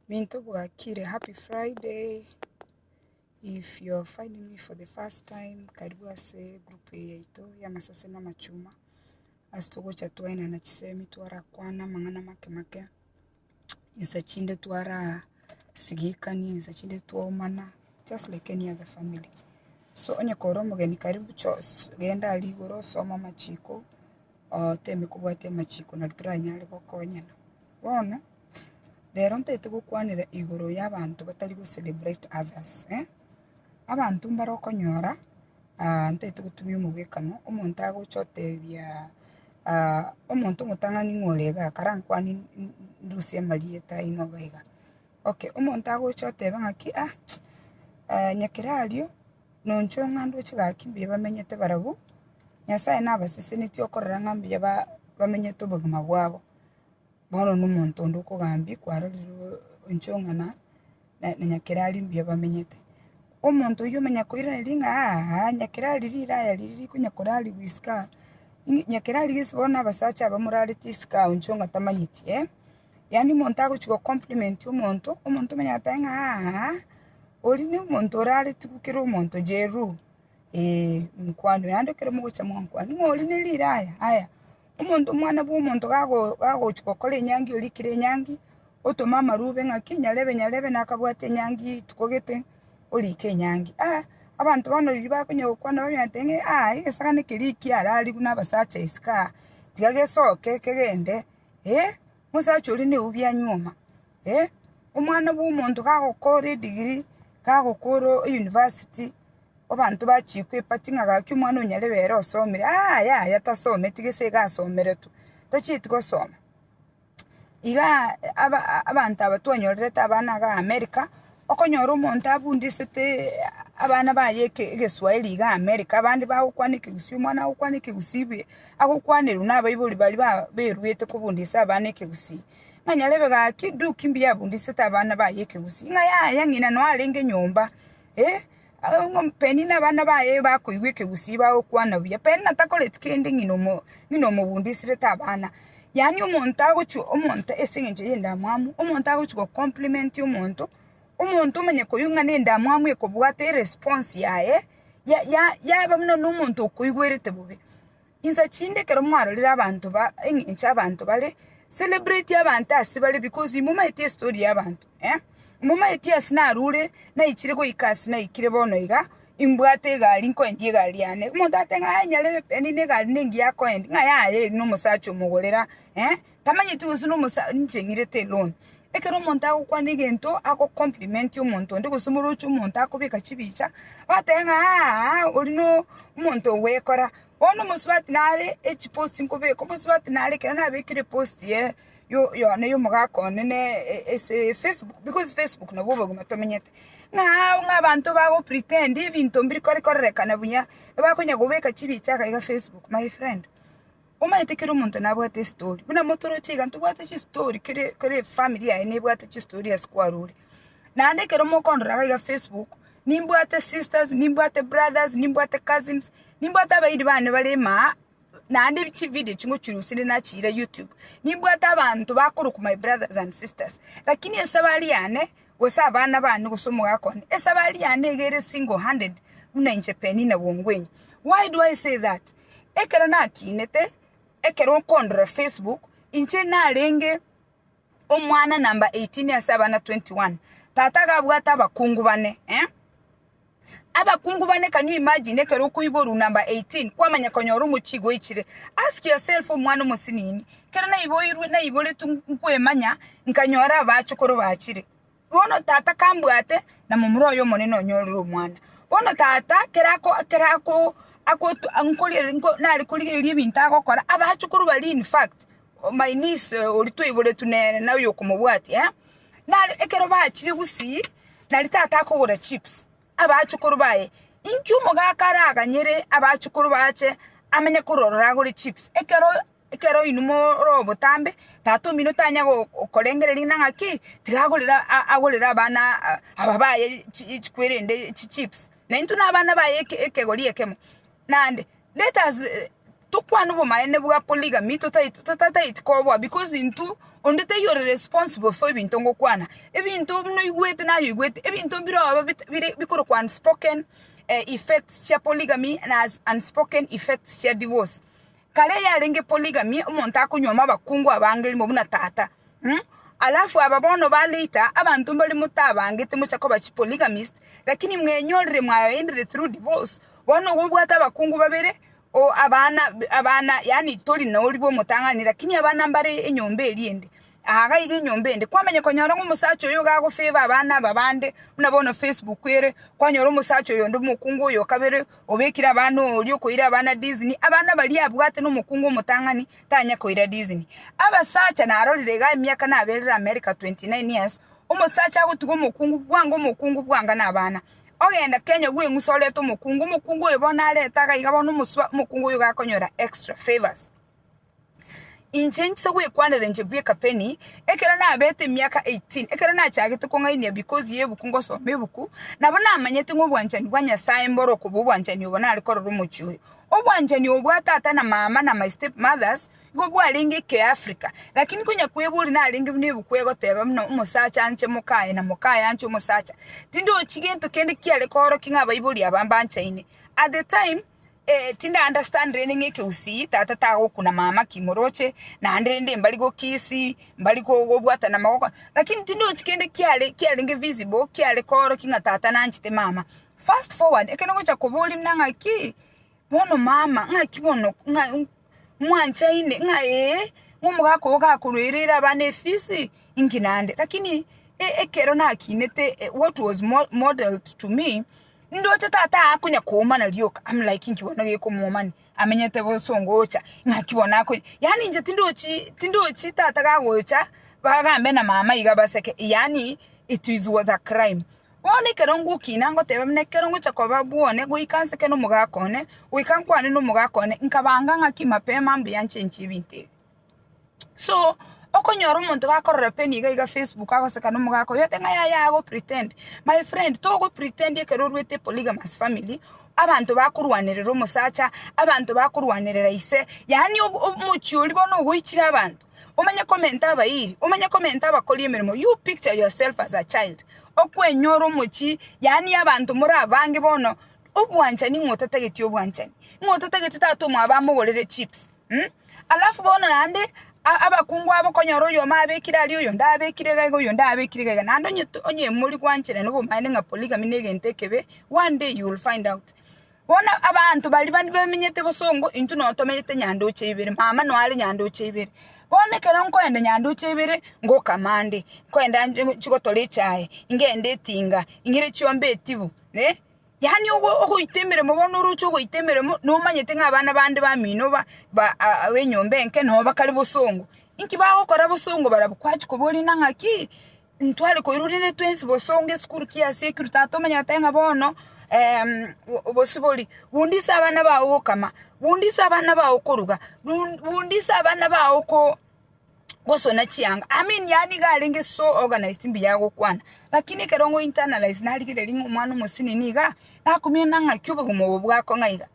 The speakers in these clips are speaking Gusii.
Minto bwakire happy Friday if you are finding me for the first time karibu ase group eye yaito y'amasase na amachuma ase togocha twaenana chisemi twarakwana amang'ana make make insa chinde twarasigikania insa chinde twaumana just like any other family so onye kore omogeni karibu genda aria igoro osome amachiko. Temi kobwate amachiko nari toranyare gokonyana. Bono rero ntaete gokwanera igoro ya abanto batari go celebrate others eh. Abanto mbare okonyora ntaete gotumia omogwekano, omonto agocha otebia omonto omotang'ani ng'a ore igaa karankwane ndusie amarieta aino iga. Okay omonto agocha oteba ng'aki ah nyakera ario. Nonchwo ng'a ndoche gaki mbuya bamenyete barabwo, Nyasae nabasesenetie okorora ng'a mbuya bamenyete obogima bwabo. Bono nomonto onde okogambia kwarorire inchwo ng'a na nyakera aria mbuya bamenyete. Omonto oyio omenya koiraneria ng'a aa nyakera aria riraya riria rikonya korarigwa isiko aa, nyakera aria gese bono abasacha abamorarete isiko ao inchwo ng'a tamanyeti. Yaani omonto agochia gocompliment omonto, omonto omonyene agoteba ng'a aa, oria nomonto oraretigwe kera omonto jeruo, eeh mokwana oyo, naende ekero mogochia mwankwana, ng'a oria ne riraya, aya, omonto omwana bwa omonto gago- gagochia gokora enyangi oria ekire enyangi, otome amarwa obe ng'aki, nyarebe nyarebe nakabwate enyangi rituko gete, orike enyangi, aa abanto bono riria bakonya gokwana bamanya goteba ng'a aa egesagani keria ekiararigwe na abasacha isiko aa, tiga gesoke kegende. ee, omosacha oria neubi a nyuoma, ee, omwana bw'omonto gagokoora edigiri, gagokoora eyunivasiti, abanto bachia koepati ng'a gaki omwana oyo nyarebe ere osomire, aa yaya tasometi gese iga asomeretwe, tachieti gosoma. Igaa abanto aba twanyorerete abana igaa America, Okonyora omonto abundisete abana baye egeswahili iga America, abande bagokwana ekegusii, omwana agokwana ekegusii be, agokwanerwa nabaibori baria baberuete kobundisa abana ekegusii, ng'a nyarebe gaki Duke mbuya abundisete abana baye ekegusii, ng'a yaya ng'ina noo arenge nyomba, eh, Penina abana baye bakoigwa ekegusii bagokwana buya. Penina takoreti kende ng'ina ng'ina omogundo esirete abana. Yaani omonto agochia omonto ase eng'encho y'endamwamu, omonto agochia go compliment omonto, omonto omanye koigwa ng'a na endamwamu ekobwate eresponse yaye, ya ya yaba buna nomonto okoigwerete bobe. Insa chinde ekero mwarorire abanto ba engencho abanto bare celebrate abanto ase bare because imomaeti estory ya abanto eh momaeti ase narure naichire goika ase naikire bono iga imbwate egari nkoendie egari yane omonto ateba nyarebe penina egari nengiya akoenda ng'a yaye eri nomosacha omogorera eh Tamanyeti gose nomosa ninche ng'irete loan. Ekero omonto agokwana egento ago compliment omonto onde gose omorochi omonto akobeka chibicha, otebe ng'a aaha oria no omonto ogwekora. Bono omosubati nare echi post nkobeka, omosubati nare ekero nabekire post ye yo yane ya omogaka one ne ase efacebook, because facebook nabo obogima tomenyete, ng'a aa ng'a abanto bago pretend ebinto mbiri kore korerekana buya, ebakonya kobeka chibicha iga facebook, my friend. Omanyete kera omonto nabwate estori, buna motoroche iga, ntobwate chistori kere kere efamiri yaye nebwate chistori ase kwarure. Naende ekero mokondora iga iga facebook, nimbwate sisters, nimbwate brothers, nimbwate cousins, nimbwate abairi bane bare emaa, naende ebi chividio echi ngochirusire nachiira youtube, nimbwate abanto bakorokwa my brothers and sisters, lakini esabari yane, gose abana bane gose omogaka one, esabari yane iga ere single handed buna inche Penina Bongwenyi. Why do I say that? Ekero nakinete, ekero okondora Facebook, inche narenge omwana number eighteen ase abana twenty one. Tata iga abwate abakungu bane, eh? Abakungu bane can you imagine ekero okoiborwa number eighteen, kwamanya konyora omochie goichire. Ask yourself omwana omosinini, ekero naiboirwe, naiboretwe nkwemanya, nkanyora abachokoro bachire, Bono tata kambwate, na momura oye omonene onyorire omwana. Bono tata kera ako kera ako akotu nkorigereria nko nare korigereria ebinto agokora, abachukuru baria in fact, my niece oria twaiboretwe nere na oyo okomobwatia eh, nare ekero bachire gusii, nari tata akogora chips, abachukuru baye, inki omogaka araganyere abachukuru bache amenye korora oragore chips, ekero Ekero inwe more obotambe, Tata omino tanya gokorengereria ng'a ng'aki tiragorera agorere abana aba baye chikwerende chichips, na intwe nabana baye ekegori ekemo. Naende let us tokwane obomaene bwa polygamy totaeti koboa because intwe onde taiyo ore responsible for ebinto ngokwana, ebinto noigwete naye oigwete, ebinto mbire obe bire bikorokwa unspoken effects chia polygamy na unspoken effects chia divorce. Kare yarenge polygamy, omonto akonyuoma abakungu abange erimo buna tata. Mh. Alafu aba bono ba later, abanto mbare motabangete mocha koba chi polygamist, lakini mwenyorire mwabaendire through divorce. Bono igo obwate abakungu babere, o abana b- abana yaani tori na oribo omotang'ani lakini abana mbare enyomba eria ende, aha iga iga enyomba ende. Kwamanya konyora ng'a omosacha oyo iga agofavour abana aba bande, buna bono Facebook ere, kwanyora omosacha oyonde omokungu oyo o kabere, Obekire abana oria okoira abana disney, abana baria abwate nomokungu omotang'ani tanye koira disney. Abasacha narorire iga emiaka naberire America 29 years, omosacha agotiga omokungu bwango omokungu bwanga nabana. Ogenda Kenya gweng'usa orete omokungu, omokungu oyo bono arete agaiga bono omosubao omokungu oyo gakonyora extra favours. Inche inchiche gwekwanera inche bweka Penny, ekero nabete emiaka eighteen, ekero nachagete kong'ainia bikosi y'ebuku ngosoma ebuku, nabo namanyete ng'a obwanchani bwa Nyasae mboro okoba obwanchani obo nare korora omochie oyo. Obwanchani obo bwa tata na mama na my step mothers, nigo bwarenge ekeafrika, lakini konya kweboria narenge buna ebuku egoteba buna omosacha anche moka aye na moka aye anche omosacha, tindochi gento kende kiare koorokia ng'a abaibori aba mbanchaine. At the time. Eh, tindi understand rende ng'a ekegusii tata tagokuna mama ki moroche naende rende mbari gokisi mbari go- gobwatana magoko lakini tindi ochi kende kiare kiarenge visible kiare kooroki ng'a tata nanchete mama fast forward ekero ogocha koboria buna ng'a ki bono mama ng'aki bono ng'a. mwanchaine ng'a ee, omogaka oo gakoruereire abana efisi, inki naende. Lakini e- ekero nakinete e- what was mo- modelled to me, ndoche tata akonya koomana rioka, am like inki bono gekomoomani, amenyete bosongo ocha, naki bono akonya yaani inche tindochi tindochi tata gagocha bagambe na mama iga baseke yaani it is was a crime. Bono ekero ngokina, ngoteba buna ekero ngochia koba bwone, goika nseke nomogaaka one, goika nkwane nomogaaka one, nkabanga ng'aki mapema mbuya nchenche ebinto ebi. So, okonyora omonto gakorora penyo iga iga facebook agoseka nomogaaka oye, ote ng'a yaya ago pretend. My friend, togo pretend ekero oruete polygamous family, abanto bakorwanerera omosacha, abanto bakorwanerera ise, yaani omochie oria bono ogoichire abanto. omanye komenta abairi, omanye komenta abakori emeremo, you picture yourself as a child okwenyora omochie, yaani abanto more abange bono obwanchani ng'a otatageti obwanchani, ng'a otatageti tata omwabo amogorere chips um alafu bono naende a- abakungu abo okonyora oyomo abekire aria oyonde abekire iga iga oyonde abekire iga iga naende onye to onye mori gwancherana obomaene ng'a polygamy negento ekebe, one day you will find out. Bono abanto baria bande bamenyete bosongo, intwe notomenyete nyandoche ibere, mama noare nyandoche ibere. Bono ekero nkoenda nyandoche ibere, ngoka mambia, nkoenda chigotora echae, ngende etinga, ng'ire chiombe etibu, eh, yaani ogo ogoita emeremo bono oroche ogoita emeremo nomanyete ng'a abana bande bamino ba ba ab'enyomba enke noo bakare bosongo. Inki bagokora bosongo barabwo? Kwachia koboria ng'a naki? Ntware koirwa rende twensi bosongo esukuru kia sekuru, tata omanyete ng'a bono obosibori, bunda ise abana bao gokama, bunda ise abana bao koruga, bunda ise abana bao gosona chianga, I mean yaye nigo arenge so organised mbuya agokwana, lakini ekero ngo internalize narigereria ng'a omwana omosibore niga nakomiana ng'aki obogima obo bwako ng'a iga,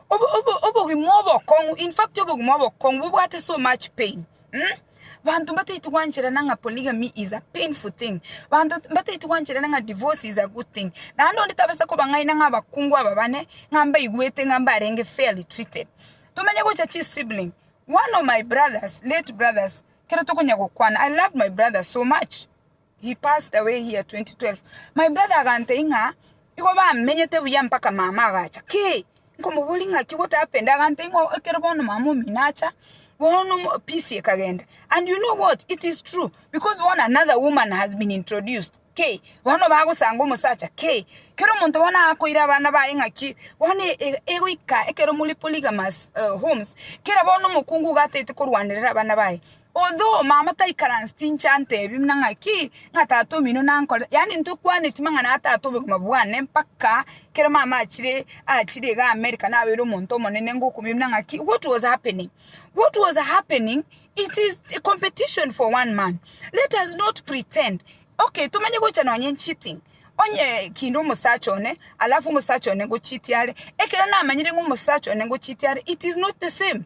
obogima obokong'u, in fact obogima obokong'u bobwate so much pain. Banto mbataiti gwancherana ng'a polygamy is a painful thing. Banto mbataiti gwancherana ng'a divorce is a good thing. Naende onde tabasa kobang'aina ng'a abakungu aba bane ng'a mbaigwete ng'a mbarenge fairly treated. Tomenye gocha chisibling. One of my brothers, late brothers, kero tokonya gokwana, I loved my brother so much. He passed away here 2012. My brother agantei ng'a igo bamenyete buya mpaka mama agacha. Kei! Nkomoboria ng'aki what happened? Agantei ng'a ekero bono mama omino acha, bono mo- peace ekagenda. And you know what? It is true. Because bono another woman has been introduced. Kei! Bono bagosanga omosacha. Kei! Kero omonto bono akoira abana baye ng'aki bono e- e- egoika ekero more polygamous eh, homes, kera bono omokungu iga ataete korwanerera abana baye. Although mama taikaransi tinche antebi buna ng'aki, ng'a tata omino nankore, yaani ntokwaneti mang'ana a tata obogima bwane mpaka kero mama achire achire iga America nabeire omonto omonene ngokumia buna ng'aki what was happening? What was happening it is a competition for one man let us not pretend okay tomanye gocha nonye cheating onye kinde omosacha one alafu omosacha one ngocheatie are ekero namanyire ng'a omosacha one ngocheatie are it is not the same.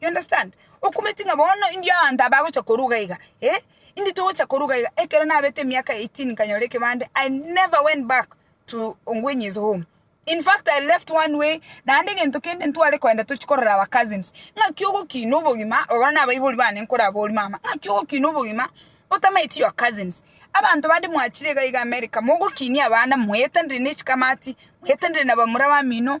You understand? Okometi ng'a bono indio abanto aba bagocha koruga iga, eh, indio togocha koruga iga. Ekero nabete emiaka 18 nkanyora ekebande, I never went back to Ongwenye's home. In fact, I left one way, naende egento kende ntware koenda tochie korora our cousins. Ng'aki ogokina obogima, abwo nabaibori bane nkorabori mama, ng'aki ogokina obogima, otamaeti your cousins. Abanto bande mwachire iga iga America, mogokinia abana, mwaetanire nechikamati, mwaetanire nabamura bamino,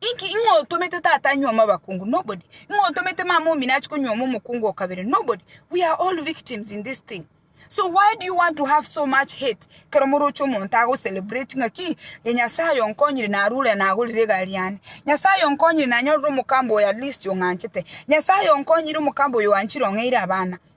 Inki? Ing'o otomete tata anyuome abakungu? Nobody. Ing'o otomete mama omino ache konyuoma omokungu o kabere? Nobody. We are all victims in this thing. So why do you want to have so much hate? Kero moroche omonto agocelebrate ng'a ki? Ee, Nyasae onkonyire narure nagorire egari yane. Nyasae onkonyire nanyorire omokamba oyo at least ong'anchete. Nyasae onkonyire omokamba oyo oanchire ong'eire abana.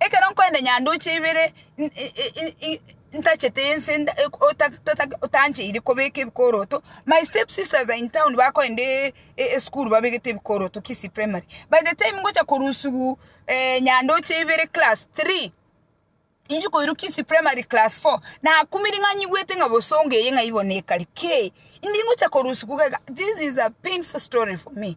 Ekero nkorende nyanduche ibere ntachete ense totancheire kobeka ebikoroto, my step sisters are in town bakorende esukuru babegete ebikoroto Kisii Primary. By the time ngocha korusiwu nyanduche ibere class three, inche koirwa Kisii Primary class four, nakumire ng'a nyigwete ng'a bosongo eye ng'a igo nekare kei, indi ngocha korusiwu iga iga, this is a painful story for me.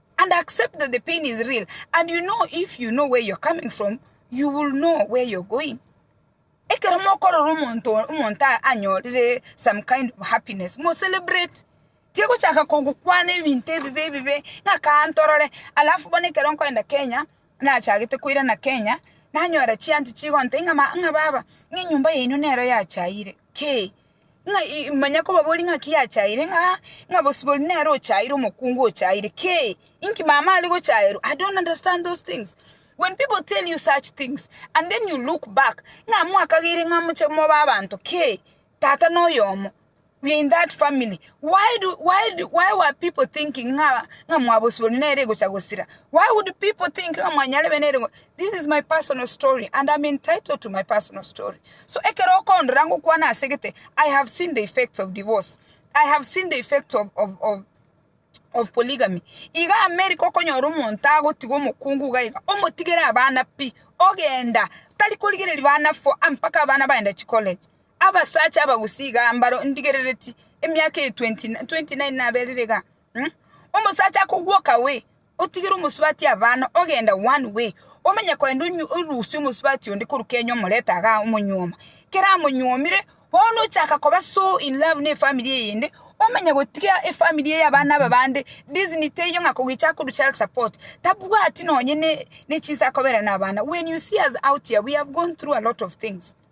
and accept that the pain is real and you know if you know where you're coming from you will know where you're going ekero mokorora omonto omonto anyorire some kind of happiness mo celebrate tigochaka kogokwana ebinto ebibe ebibe ng'a kaa ntorore alafu bono ekero nkoenda kenya nachagete koirana kenya nanyora chianti chigontebi ng'a baba ng'a enyomba yaino nero yachaire. ki? Ng'a i- manya kobaboria ng'a ki achaire ng'a ng'a bosio boria nere ochaire omokungu ochaire ki? Inki mama are gochaerwa? I don't understand those things. When people tell you such things and then you look back ng'a mwakagire ng'a moche mobe abanto ki? Tata noyomo we are in that family why do why do why were people thinking ng'a ng'a mwa bosio boria nere egocha gosira? Why would people think ng'a mwanyarebe nere go This is my personal story and am entitled to my personal story. So ekero okondora ngokwana ase gete, I have seen the effects of divorce. I have seen the effect of, of, of of polygamy iga america okonyora omonto agotiga omokungu iga iga omotigere abana pi ogenda tari korigereria bana fo mpaka abana bagenda chicollege abasacha abagusii iga mbaro ndigerereti emiaka eye 29 naberire iga mm? omosacha akogwoka we otigere omosubati abana ogenda one way, omanye kogenda orusie omosubati onde korwa Kenya omorete igaa omonyuoma, kero amonyuomire bono ochaka koba so in love ne efamiri eyende omanye gotiga efamiri eye abana aba bande disni teiyo ng'a kogicha akorwa child support tabwati nonye ne chinsa akoberana abana, when you see us out here we have gone through a lot of things.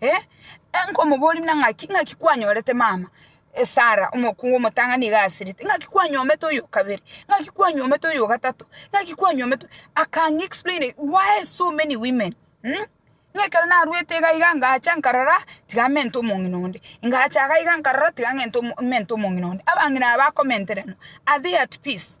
Eh, eh, nkomoboria buna ng'aki, ng'aki kwanyorete mama, eh, Sara, omokungu omotang'ani iga asirete, ng'aki kwanyomete oyo okabere, ng'aki kwanyomete oyo ogatato, ng'aki kwanyomete oyo-" akang'explain why so many women mh? Ng'a ekero narwete iga iga ngacha nkarora tiga mente omong'ina onde, ngacha iga iga nkarora tiga ng'ente omo mente omong'ina onde, abang'ina aba bakomenterenwa, are they at peace?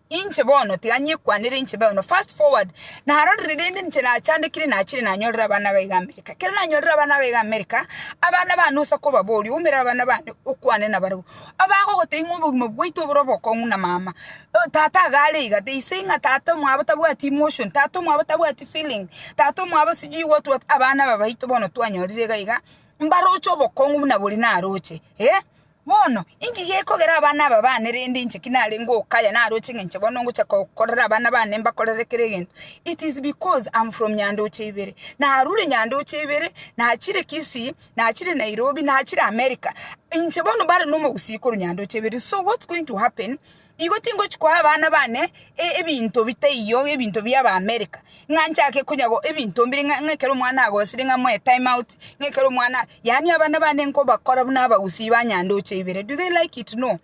Inche bono, tiga nyekwanere inche bono, fast forward, narorire rende inche nachandekire nachire nanyorire abana ba iga America. Ekero nanyorire abana ba iga America, abana bane osa kobaboria, oumera abana bane okwane nabarabwo. Abagogotebia ng'a obogima bwaito bore obokong'u na mama, tata iga are iga, they say ng'a tata omwabo tabwati emotion, tata omwabo tabwati feeling, tata omwabo sijui what what, abana aba baito bono twanyorire iga iga, mbaroche obokong'u buna boria naroche, eh. Bono, inki gekogera abana aba baane rende inche ki nare ngokaya naroche ng'enche bono ngocha kokorera abana baane mbakorere kera egento? It is because am from Nyandoche ibere, narure Nyandoche ibere, nachire Kisii, nachire Nairobi, nachire America. Inche bono mbare nomogusii korwa Nyandoche ibere, so what's going to happen Nigo tingochi koa abana bane ebinto bitaiyo, ebinto bia ba America, ng'a nchake konya go ebinto mbire ng'a ng'a ekero omwana agosire ng'a moe time out, ng'a ekero omwana yaani abana bane nkobakora buna abagusii ba nyandoche ibere. Do they like it? No.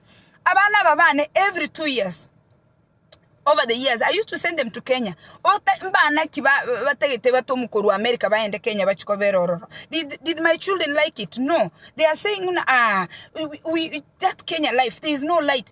Abana aba bane every two years, over the years, I used to send them to Kenya. Ota mbana ki ba batagete batomwe korwa America baende Kenya bachie kobera ororo. Did did my children like it? No. They are saying ng'una aah, we we we that Kenya life, there is no light.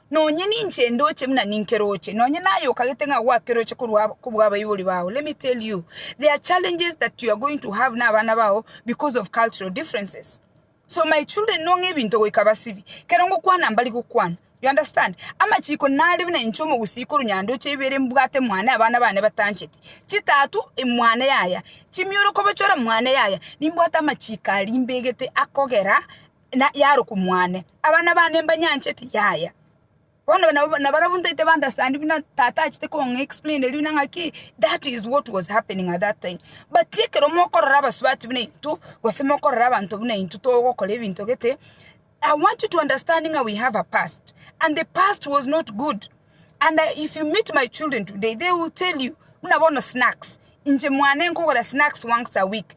Nonye ninche ndoche buna ninkeroche, nonye naye okagete ng'a gwakeroche korwa kobw'abaibori bao, let me tell you, there are challenges that you are going to have n'abana bao because of cultural differences. So my children nong'e ebinto goika basibi, kero ngokwana mbari gokwana, you understand? Amachiko nare buna inche omogusii korwa nyandoche ibere mbwate mwane abana bane batancheti, chitatu mwane yaya, chimioro kobachora mwane yaya, nimbwate amachiko aria mbegete akogera. na yarokwa mwane. Abana bane mbanyancheti, yaya. Bono nabo nabarabwo ntaete ba understand buna tata achete kong'a explain eri buna ng'aki that is what was happening at that time. But ekero mokorora abasubati buna intwe, gose mokorora abanto buna intwe togokora ebinto gete, I want you to understand ng'a we have a past, and the past was not good, and I, if you meet my children today, they will tell you buna bono snacks, inche mwane nkogora snacks once a week,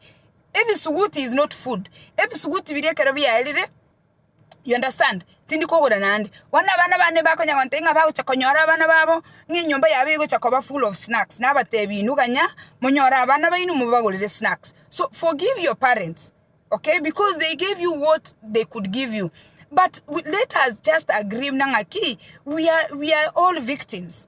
Ebisuguti is not food. Ebisuguti biria ekero biaerire, you understand, tindi kogora naende. Bono abana bane bakonya gontebia ng'a bagocha konyora abana babo, ng'a enyomba yabo egocha koba full of snacks, nabatebi inwe ganya monyore abana baino mobagorere snacks. So forgive your parents, okay, because they gave you what they could give you. But we, let us just agree muna ng'aki, we are, we are all victims.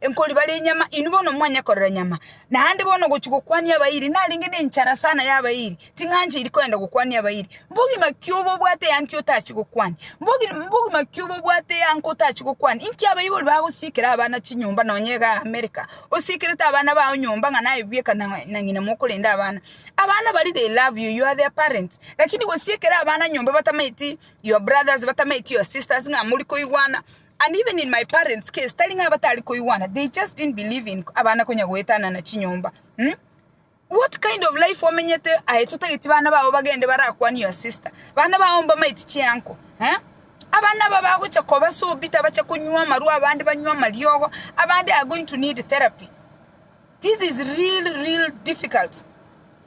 Enkori bare enyama, inwe bono momanye korera nyama. Naende bono gochia gokwania abairi, narenge nenchara sana y'abairi, ting'ancheiri kogenda gokwania abairi. Mbogima ki obo obwate eantia otachie gokwania? Mbogi- mbogima ki obo obwate eango otachie gokwania? Inki abaibori bagosiikera abana chinyomba nonya iga America, osiikerete abana bao nyomba ng'a naye bweka na na ng'ina mokorenda abana? Abana baria they love you, you are their parents, lakini gosiikera abana nyomba batamaeti your brothers, batamaeti your sisters ng'a mori koigwana. And even in my parents case tari ng'a batari koigwana they just didn't believe in abana konya goetanana chinyomba mm? what kind of life omenyete aye totageti bana bao bagende barakwanie your sister bana bao mbamaiti chianko eh? abana aba bagocha koba so bitter bache konywa amarwa abande banywa amariogo abande are going to need therapy this is real real difficult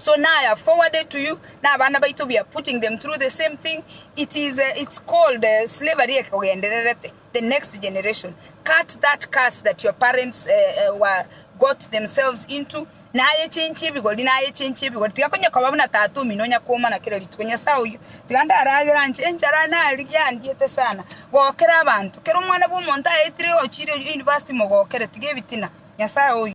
So now I have forwarded to you na abana baito we are putting them through the same thing it is uh, it's called uh, slavery ekogendererete the next generation cut that curse that your parents uh, uh, were got themselves into naye chenchi ebigori naye chenchi ebigori tiga konya koba buna tata omino onya komana kera rituko nyasaye oyo tiga ndaragera nche enchara nari yandiete sana gokera abanto kera omwana bwa omonto aetire ochire university mogokere tiga ebitina nyasaye oyo